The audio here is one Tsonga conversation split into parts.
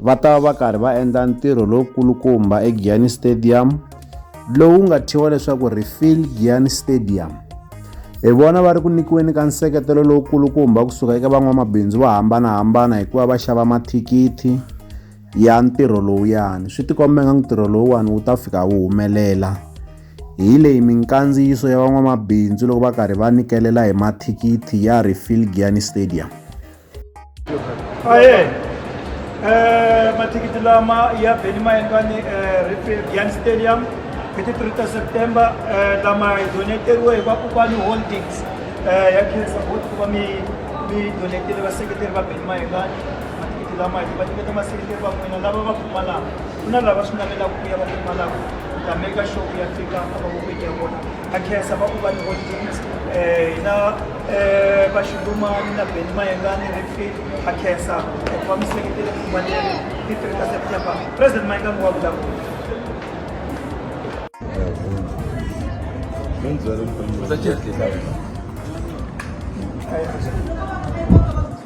va ta va va karhi va endla ntirho lowukulukumba egiyani stadium lowu nga thyiwa leswaku refill giyani stadium hi vona va ri ku nyikiweni ka nseketelo lowukulukumba kusuka eka van'wamabindzu vo hambanahambana hikuva va xava mathikithi ya ntirho lowuyani swi tikombe nga ntirho lowuwani wu ta fika wu humelela hi leyi minkandziyiso ya van'wamabindzu loko va karhi va nyikelela hi mathikithi ya refill giyani stadium aye eh, mathikithi lama ya beni ma endliwa ni eh, stadium hi ti 3 ta september eh, lama hi doneteriwe hi vakokwana holdings eh, ya khensa boti ku va mi mi donetele vaseketeri va beni ma endlwani mathikithi lama hi va nyiketa maseketeri va n'wina lava va pfumalaka ku na lava swi navelaka ku ya va pfumalaka ta make sure ku ya fika a va vokweni ya vona a khensa vakokwana vo tins eh, na eh, vaxidumani na bendi mayengani refit a khensa loko va mi seketele kumaleni hi three ta september president mayengani wa vulavula Thank you.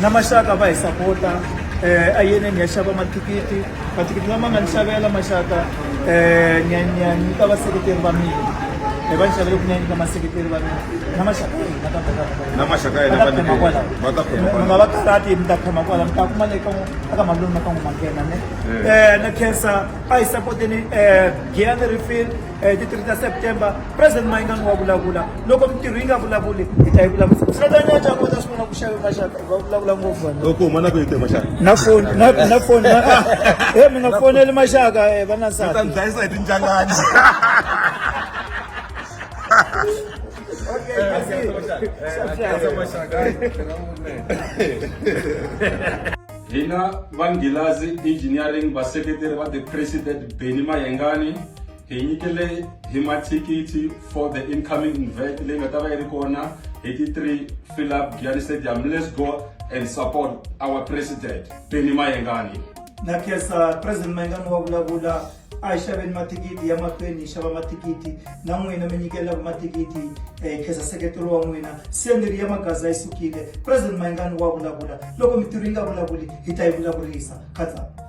na maxaka va hi sapota um a yene ni ya xava mathikithi mathikithi lama nga ni xavela maxaka um ni ya ni ya nyika vaseketeri va mina hi va ni xavele ku ni ya nyika maseketeri va mina na maxaka va ta na maxaka yena va khoma kwala va ta khoma kwala va karati mi ta khoma kwala mi ta kuma le ka aka malungu na ka n'wi manghena ne um na khensa a hi sapoteni um giyani refill eh, ti 3 ta september president mayingani wa vulavula loko mintirho yi nga vulavuli hi ta yi vulavula svetanyacakota swi vona ku xave maxaka va vulavula ngopfu loko huma na ku yite maxaka na foni na foni e mi nga foneli maxaka eh, va na nsati ta ndlayisa hi tinjangani Okay, Hina va Nghilazi Engineering vaseketeri va The President Benny Mayengani hi nyikele hi mathikithi for the incoming invert leyi nga ta va yi ri kona hi ti 3 fill up Giyani Stadium let's go and support our president Benny Mayengani na kesa president mayengani wa vulavula a hi xaveni mathikithi ya mahlweni hi xava mathikithi na n'wina mi nyikelelaku mathikithi um eh, kheza seketelo wa n'wina senderi ya magaza yi sukile president mayingani wa vulavula loko mitirho yi nga vulavuli hi ta yi vulavurisa khatsana